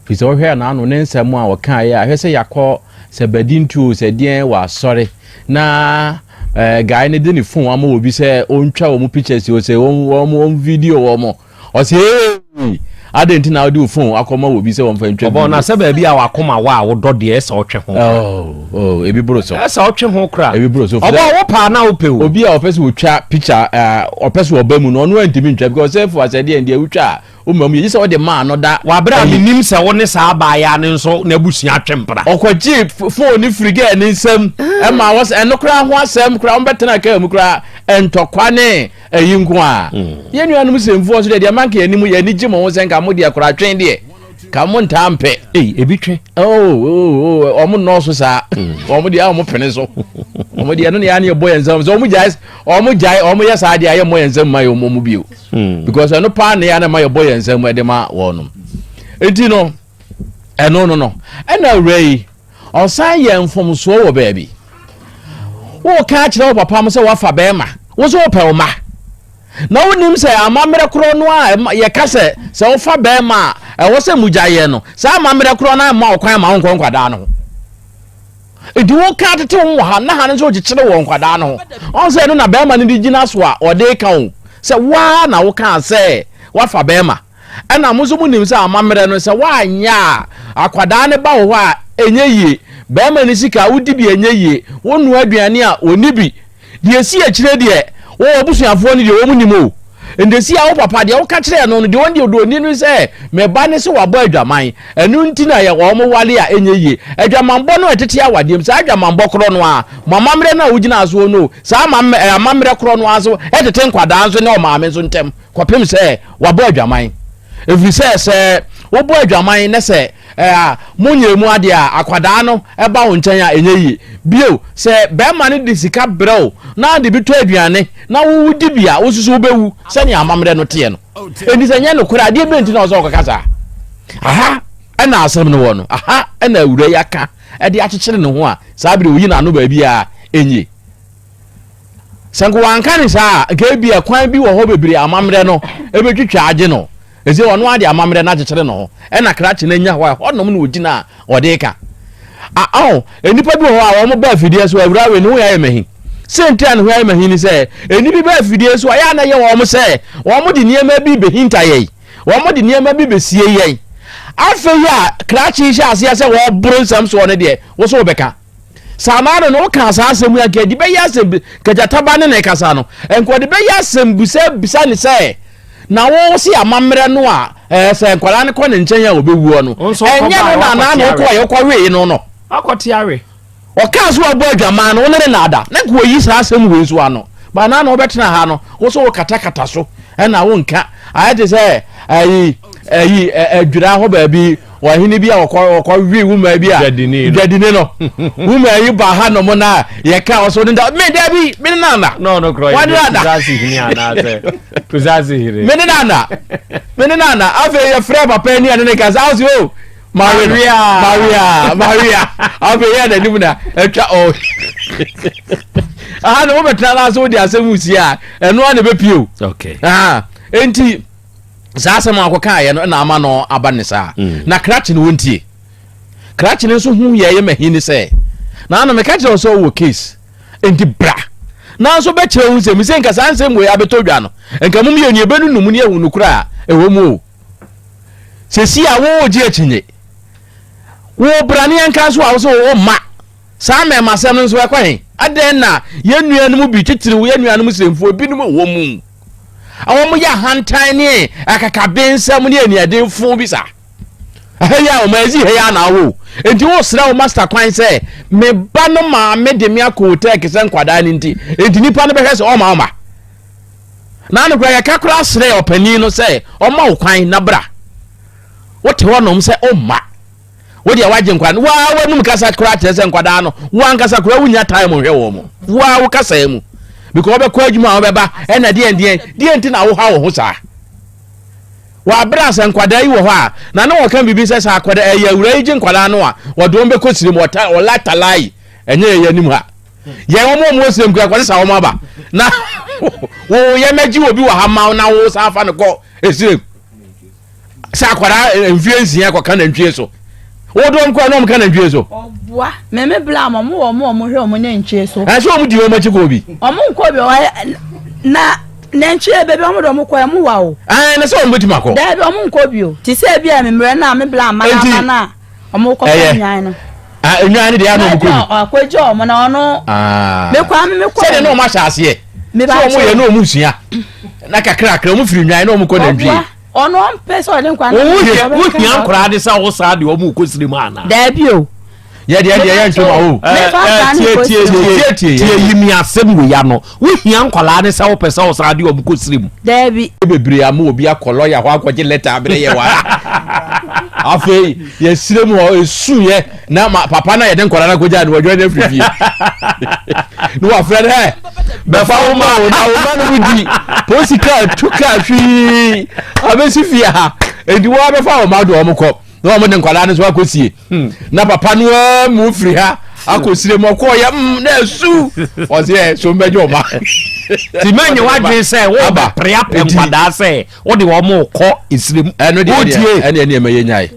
Firi sɛ wohwɛ a n'ano ne nsɛm a ɔkaeɛ a hwɛ sɛ yakɔ sɛ badi ntuo sɛ deɛn wɔ asɔre na ɛɛ gae ne de ne fon ama obi sɛ ɔntwa wɔn pictures o sɛ wɔn wɔn video wɔn Ɔse eeii adɛn nti na wode wo phone akɔma obi sɛ ɔmfa ntwa video. Ɔbɔ na sɛ baabi a wakoma wɔ a wodɔ deɛ ɛsɛ ɔtwe ho kora. Oh oh ebi boro so. Ɛsɛ ɔtwe ho kora. Ebi boro so. Ɔbɔ wo paa na wopɛ o. Obi a ɔpɛ sɛ ɔtwa picture ɔpɛ sɛ ɔba mu no ɔno antumi ntwa because ɔsɛ fo asɛ deɛ deɛ wotwa a woma mu yɛ gye sɛ ɔde maa no da. Wabere a menim sɛ wo ne saa abaayaa no nso n'abusua atwe mpena. Ɔkɔgye phone no firi girl ne nsam ɛma wɔsɛ ɛno koraa ho asɛm koraa wɔbɛtena kaa mu koraa ntɔkwa ne Eyi nko a. Yɛn nuanom Semfoɔ nso deɛ, deɛ ma nka yɛn anim, yɛn ani gye mo ho sɛ nka mo deɛ koraa twen deɛ, nka mo ntaa mpɛ. Ei, ebi twe. Oh, oh, oh, wɔn nnɔɔso saa. Wɔn deɛ, a wɔn pene so. Wɔn deɛ, ɛno na yɛn ani yɛbɔ yɛn nsam. Sɛ wɔn gyae, wɔn gyae, wɔn yɛ saa deɛ, a yɛn mmɔ yɛn nsam ma yɛn wɔn bio. Because ɛno paa na yɛn na ɛma yɛbɔ yɛn nsam de ma wɔn. Enti no. Ɛno no no, ɛna awuraa yi, ɔsan yɛ mfomsoɔ wɔ baabi. Woka akyerɛ wo papa mo sɛ woafa bɛrima, wo so wopɛ wo ma. Na wonim sɛ amammerɛ korɔ no a yɛka sɛ sɛ wofa bɛrima a ɛwɔ sɛ mogya yɛ no, saa amammerɛ korɔ no amma ɔkwan ma wonkɔ nkwadaa no ho. Nti woka atete wo wɔ ha na ha no nso wokyekyere wɔ nkwadaa no ho. Ɔn sɛ ɛno na bɛrima no de gyina so a ɔde ka wo sɛ woa na wokaa sɛ woafa bɛrima. Ɛna mo nso mo nim sɛ amammerɛ no sɛ woanyɛ a akwadaa no ba wo hɔ a ɛnyɛ yie, barima no sika a wodi bi a ɛnyɛ yie, wonnoa aduane a ɔnni bi. Deɛ ɛsi akyire deɛ wo abusuafoɔ no deɛ wɔn nim o. Ndɛsi a wo papa deɛ woka kyerɛɛ no no deɛ wɔn deɛ ɔde ɔni no sɛ me ba no sɛ wabɔ adwaman ɛno nti na yɛ wɔn wale a ɛnyɛ yie. Adwamanbɔ no ɛtete awadeɛ mu saa adwamanbɔ korɔ no ara mo amammerɛ no a wogyinaa soɔ no o saa amammerɛ korɔ no ara nso ɛtete nkwadaa nso ne ɔmaame nso ntɛm. kɔpem sɛ wabɔ adwaman, ɛfiri sɛ sɛ wobɔ adwaman na sɛ ɛa monyɛɛ mu adeɛ a akwadaa no ba wo nkyɛn a ɛnyɛ yie, bio sɛ bɛɛma no de sika brɛ wo na de bi tɔ aduane na wo wodi bi a wosusu wobɛwu sɛnea amammerɛ no teɛ no, ɛnti sɛ nyɛ nokorɛ adeɛ bɛn nti na ɔsɛ ɔkɔka saa? Aha ɛna asɛm no wɔ no, aha ɛna awura yi aka ɛde akyekyere ne ho a saa berɛ oyi n'ano baabi a ɛnyie. Sɛ nka wanka ne saa a, nka ebia kwan bi wɔ hɔ bebree amammerɛ no bɛtwitwa agye no. Ɛsɛ ɔno ara de amammerɛ no akyekyere ne ho na krakye no anya hɔ a, ɛhɔnom na ɔgyina a ɔde reka. A, ɔho, nnipa bi wɔ hɔ a wɔn baa fidie so, awura wei ne ho ayɛ mahi. Sɛ nti a ne ho ayɛ mahi ne sɛ, ɛni bi baa fidie so a, yɛ a na yɛ wɔn sɛ wɔn de nneɛma bi bɛhinta yɛn, wɔn de nneɛma bi bɛsie yɛn. Afei a krakye hyɛ aseɛ sɛ wɔboro nsɛm soɔ no deɛ, wo so wobɛka. Saa ara na wokaa saa asɛm yi a nka ɛde bɛyɛ asɛm bi nka gyata ba ne na ɛkasa no nka ɔde bɛyɛ asɛm bi sɛ bisa ne sɛ na wo se amammerɛ no a ɛɛ sɛ nkwadaa no kɔ ne nkyɛn a ɔbɛwuo no ɛnyɛ no na anaa na ɔkɔ a ɔkɔ wee no no wakɔte awe ɔkaa so abɔ adwaman no wo ne ne na ada na nka ɔyi saa asɛm wei nso ano ba anaa na ɔbɛtena ha no wo so wokatakata so ɛna wonka ayɛ te sɛ ayi ayi adwira hɔ baabi Ɔhene bi a ɔkɔwee wo maa bi a dwadini no wo maa yi ba ha nom no a yɛka ɔso ne da me da bi me ne nana na ɔno korɔ yɛ kusase hene anaasɛ kusase hene me ne nana me ne nana afei yɛfrɛ papa ani a ne ne ka sɛ ase o Maria Maria Maria afei yɛ n'anim na atwa ɔ aha na wobɛtena no ase wode asɛm si a ɛno a na ɛbɛpie o nti saa asɛm a ɔkɔkaeɛ no na ama no aba ne saa mm. na krakye no wɔntie krakye no nso hu yɛyɛ mahi ne sɛ na na meka kyerɛ wo sɛ ɔwɔ case enti bra nanso bɛkyerɛ wo nsɛm sɛ nka saa nsɛm wei abɛtɔ dwa no nka mom yɛ nneɛbɛ no num ne ahu no kora a ɛwɔ mu o sɛsi a wogye akyinye wo brane anka so a wo sɛ wo mma Saa mmarimasɛm no nso, ɛkɔ he? Adɛn na yɛn nuanom bi, titiriw yɛn nuanom Muslimfoɔ binom a wɔn mu a wɔyɛ ahantan ne akakabensɛm ne aniɛdenfo bi saa? Ɛha yi a wɔn adzi ha yi a na awo nti wosrɛ wo master kwan sɛ me ba no maame de me akɔ hotel kesɛ nkwadaa no nti nti nipa no bɛhwɛ sɛ ɔma ɔma na ano koraa yɛka koraa srɛ ɔpanin no sɛ ɔma wo kwan na bra wote hɔnom sɛ ɔmma wo deɛ wagye nkwadaa no waa w'anum kasa koraa kyerɛ sɛ nkwadaa no wankasa koraa wonya time hwɛ wɔn mo waa wo kasa mu because wɔbɛkɔ adwuma a wɔbɛba ɛna deɛn deɛn deɛn nti na woha wo ho saa wɔabrɛ asɛ nkwadaa yi wɔ hɔ a na ne wɔka biribi sɛ sɛ akwadaa ɛyɛ awura yi gye nkwadaa no a wɔde wɔn bɛkɔ sirim ɔlatalai ɛnyɛ yɛyɛ anim ha yɛn wɔn a wɔn sirim kura kɔsɛ sa wɔn aba na wɔyɛ mɛgye obi wɔ ha ma na wɔsan afa no kɔ esirim. sɛ akwadaa eh, mfie nsia kɔka nantwie so wode wɔn kɔa na wɔn ka nantwie so. ɔboa mɛmɛ bla wɔn wɔ wɔn wɔn hwɛ wɔn nantwie so. ɛsɛ wɔn di wɔn akyi kɔ bi. wɔn nkɔ bi wɔn na nantwie bɛbi wɔn de wɔn kɔ ɛmu wa o. ɛɛ na sɛ wɔn bɛ tuma kɔ. dɛbi wɔn nkɔ bi o ti sɛ ebi a mmerɛ na mi bla ama na ama na. ɔmo kɔ fɔ nwan no. Ah, nwan no deɛ ano ɔmo kɔ bi. Ɔkɔ gye ɔmo na ɔno. Ah. Me kɔ ame me kɔ. Sɛdeɛ na ɔmo ahyɛ aseɛ. Me ba kyɛ. Sɛ ɔmo yɛ na ɔmo sua. Na kakra kakra ɔmo firi nwan na ɔmo kɔ nantwie. Ɔboa ɔno ɔmpɛ sɛ ɔde nkwa no. Wohia nkoraa de sɛ wosaa de ɔmo kɔ siri mu ana. Daabi o. Yɛ deɛ deɛ yɛ ntoma o. Tie tie tie tie yi mi asɛm wei ano. Wohia nkwadaa ne sɛ wopɛ sɛ ɔsan de wɔn kɔ srem. Daabi. Bebree ama obi akɔ lɔya hɔ akɔgye lɛta abere yɛ wara. Afei yɛ srem hɔ esu yɛ na ma papa na yɛde nkwadaa no akɔgya no wɔdwa no afiri fie. Ne wafrɛ no ɛ bɛfa wo ma wo na wo ma no mu di polisi kaa tu kaa hwii abɛsi fie ha. Enti wɔabɛfa wɔn ma de wɔn kɔ na wɔn de nkwadaa no nso akɔsie. Hmm. na papa no ara mu ofiri ha akɔ sire mu ɔkɔ ɔyɛ mm na esu ɔsi ɛ so mbɛgye ɔma. ti ma nye wadwin sɛ wo bɛ pere apɛ nkwadaa sɛ o de wɔn kɔ esire mu. ɛnu deɛ ɛnu ɛnu ɛnu ɛmɛ yɛ nyae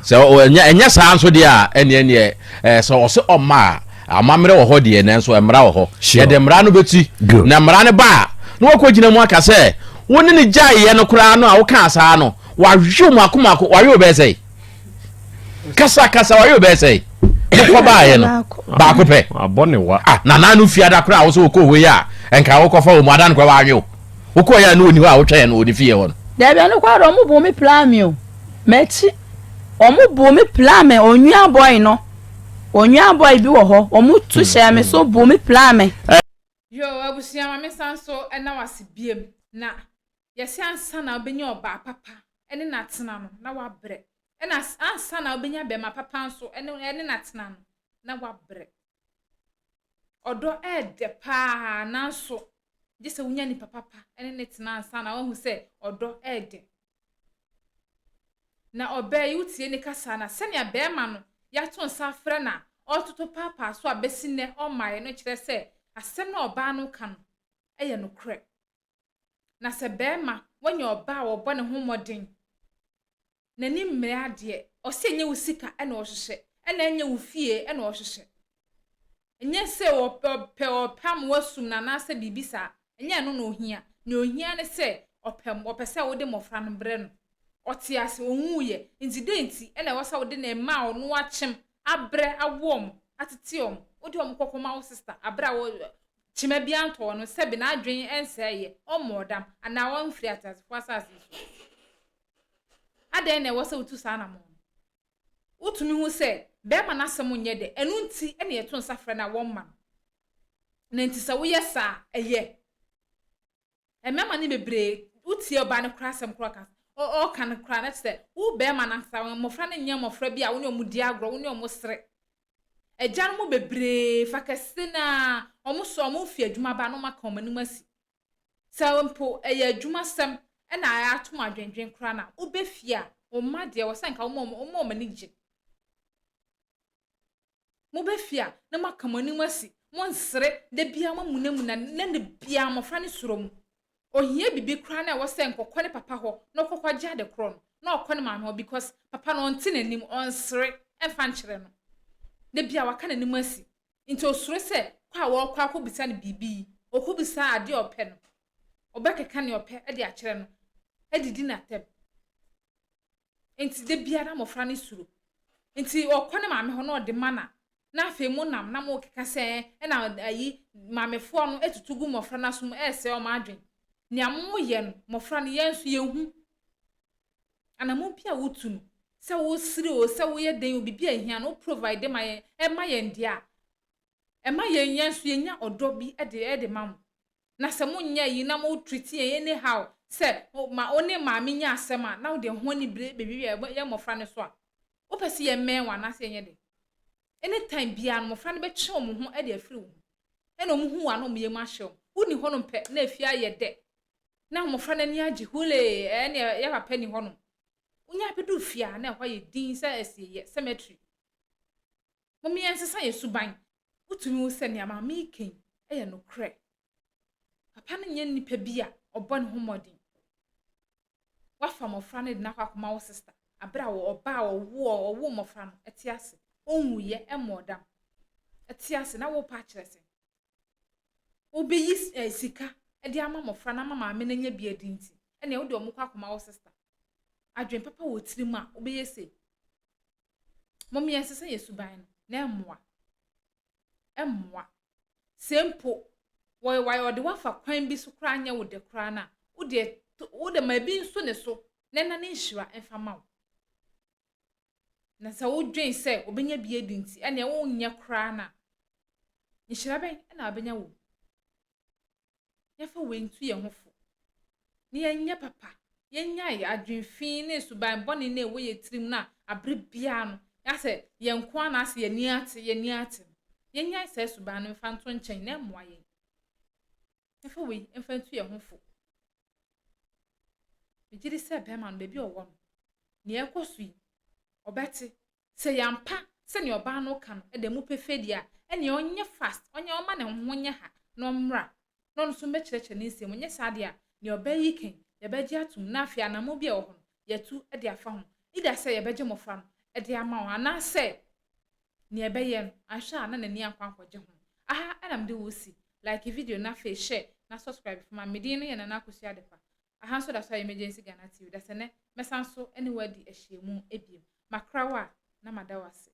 sɛ ɛnyɛ ɛnyɛ saa nso deɛ a ɛnu ɛnu ɛ sɛ ɔsi ɔma a amammerɛ wɔ hɔ deɛ nanso mmara wɔ hɔ yɛde mmara no bɛti na mmara no ba a na wɔkɔ gyina mu aka sɛ wo ne ne gyaeɛ no koraa no a wokaa saa no wawew mu akomako wawew bɛɛ sɛ kasa kasa wɔyɛ bɛɛ sɛ wokɔ baayɛ no baako pɛ abɔ ne wa ah na nanu fi ada koraa wosɛ wokɔ hɔ yi a nka wokɔfa wɔ mu ada no kora wɔanwe o wokɔ yɛ a ne ɔni hɔ a wotwɛn no ɔni fie hɔ no daabi ɛno kɔ ara ɔmo bu mi pla mi o m'akyi ɔmo bu mi pla mi onua bɔi no onua bɔi bi wɔ hɔ ɔmo tu hmm, hyɛ mi so hmm. bu mi pla mi. yoo abusua maame san so ɛna wase biem na. Yɛse ansa na wobɛnya ɔbaa papa ne no atena no, na woabrɛ. Ɛna ansa na wobɛnya bɛma papa nso ne no atena no, na woabrɛ. Ɔdɔ ɛɛdɛ paa nanso gyesɛ wonya nipa papa ne no tena ansa na woahu sɛ ɔdɔ ɛɛdɛ. Na ɔbaa yi wotie ne kasa na sɛnea bɛɛma no yɛato nsa afrɛ no a ɔɔtoto paapaa so a bɛsi nnɛ ɔmmaeɛ no kyerɛ sɛ asɛm no a ɔbaa no reka no yɛ nokorɛ. Na sɛ barima wanya ɔbaa a ɔbɔ ne ho mmɔden, n'ani mmere adeɛ, ɔsɛ ɛnyɛ wo sika na ɔhwehwɛ, ɛna ɛnyɛ wo fie na ɔhwehwɛ. Ɛnyɛ sɛ ɔpɛ ɔpɛ ɔpɛ ama wasum no anaasɛ biribi saa, ɛnyɛ ɛno na ɔhia. Nea ɔhia ne sɛ ɔpɛ ɔpɛ sɛ wode mmɔfra no brɛ no. Ɔte ase, ɔnwuiɛ. Nti dɛn nti na ɛwɔ sɛ wode ne mma a ɔno akyem, abrɛ, awo wɔn, atete wɔn, wode wɔn kɔkɔma wo sista berɛ a wo Kyema biara ntɔɔ no, sɛbe n'adwen nsɛe ɛ, ɔmmɔɔ dam, anaa wamfiri ateasefoɔ asase so. Adɛn na ɛwɔ sɛ wotu saa anammɔn no? Wotumi hu sɛ barima no asɛm nyɛ dɛ, ɛno nti na yɛto nsa frɛ no a wɔmma no. Na enti sɛ woyɛ saa a, ɛyɛ. Mmarima no bebree, wotie ɔbaa no koraa asɛm koraa ɔka, ɔka no koraa na kyerɛ sɛ wo barima no ankasa, mmɔfra no nyɛ mmɔfra bi a wo ne wɔn di agorɔ, wo ne wɔn sere. Agya no mu bebree, fa kɛse no ara, wɔsoa wɔn fi adwuma ba na wɔaka wɔn anim asi. Sɛ mpo ɛyɛ adwumasɛm na ato wɔn adwendwen koraa no a, woba fie a, wo mma deɛ, ɛwɔ sɛ anka woma wɔn ani gye. Mobefi a na moaka mo anim asi, monsere, da biara moamunamuna, na da biara mmofra no suro mo. Ohia biribi koraa na ɛwɔ sɛ nkɔkɔ ne papa hɔ na ɔkɔ kɔgye ade korɔ no, na ɔkɔ ne maame hɔ because papa no ɔnte n'anim, ɔnsere mfa nkyerɛ no. Da biara waka n'anim asi, nti osuro sɛ kɔ a wɔrekɔ akɔbisa no biribi yi, ɔkɔbisa ade a ɔpɛ no, ɔbɛkeka nea ɔpɛ de akyerɛ no, adidi n'atɛm. Enti da biara na mmɔfra no suro. Enti ɔkɔ ne maame hɔ na ɔde mana na afei monam na morekeka sɛ ɛna ayi maamefoɔ no atutu gu mmɔfra no aso mu ɛresɛe wɔn adwene. Nea moyɛ no, mmɔfra no, yɛn nso yɛhu. Anammɔn bi a wotu no, sɛ wosere o, sɛ woyɛ dɛn o, biribi a ɛhia no, wo provide ma yɛn, ɛma yɛn deɛ a, ɛma yɛn yɛn nso yɛnya ɔdɔ bi de de ma mo. na sɛ mo nyɛ eyi na mo treat yɛn any how sɛ o ma o ne maame nyɛ asɛm a na o deɛ ho ani bere bɛ wiawia yɛn mmɔfra no so a o pɛ sɛ yɛ mɛn wɔn anaa sɛ yɛ nyɛ dɛ any time biara no mmɔfra no bɛ twe wɔn ho de afiri wo ho ɛna wɔn hu wo a na wɔn yɛ mu ahyɛ wɔn wo ni hɔ nom pɛ na afie ayɛ dɛ na mmɔfra no ani agye hulee ɛɛ ne yɛ papa ni hɔ nom wo nya bɛ du fie a na ɛhɔ ayɛ din sɛ asieyɛ cemetery. Hom yɛnsesa hɛn suban. Wotumi hu sɛ nea maame yi ka yi yɛ nokorɛ. Papa no nyɛ nipa bi a ɔbɔ ne ho mmɔden. Wafa mmɔfra no de no akɔ akɔma wo sista berɛ a ɔbaa a ɔwoɔ ɔwoo mmɔfra no te ase. Ɔnwuiɛ, ɛmmɔɔ dam. Te ase na worepɛ akyerɛ sɛ wobɛyi eh sika de ama mmɔfra no ama maame no anya bi adi nti ɛnna wode wɔn kɔ akɔma wo sista. Adwene papa wɔ tirim a wobɛyɛ sei. Mom yɛnsesa yɛn suban no, na ɛmmoa. Ɛmmoa. Sɛ mpo wɔyɛ wɔayɛ ɔde wafa kwan bi so koraa anyɛ wo dɛ koraa no a, wo deɛ to wo de ma ebi nso ne so na ɛna ne nhyira mfa ma wo. Na sɛ wodwen sɛ obenya bi adi nti ɛnneɛ wonyɛ koraa no a, nhyira bɛn na wabenya wɔ mu? yɛmfa wei ntu yɛn ho fo, na yɛnyɛ papa, yɛnnyae adwene fi ne nsuban bɔne no a ɛwɔ yɛn tirim no a abere biara no yɛa sɛ yɛn nko ara na asɛ yɛn ani ate, yɛn ani ate no. Yɛnnyae saa suban no mfa nto nkyɛn na ɛmmoa yɛn. Yɛmfa wei mfa ntu yɛn ho fo. Megye di sɛ bɛrima no, baabi a ɔwɔ no, nea ɛrekɔ so yi, ɔbɛte Sɛ yɛampa sɛnea ɔbaa no reka no da mu pefee deɛ a, ɛnneɛ ɔnyɛ fast, ɔnyɛ ɔmma ne ho nyɛ ha na ɔmmra, na ɔno nso mmɛkyerɛkyerɛ ne nsam. Anyɛ saa deɛ a, nea ɔbaa yi reka yi, yɛbɛgye atom, na afei anammɔn bi a ɛwɔ hɔ no, yɛatu de afa ho, either sɛ yɛbɛgye mmɔfra no de ama wɔn anaasɛ nea ɛbɛyɛ no, anhwɛ a na n'ani ankɔ ankɔgye ho. Aha na mede wo resi. Like video no afei hyɛ na subscribe fi ma me. Me din no yɛ Nana Akosua Adepa. Aha nso da so ayɛ Emergency Ghana TV. Dasɛ nɛ mɛsan so ne wo adi ahyiamu ebiem. Makra wo a na mada wo ase.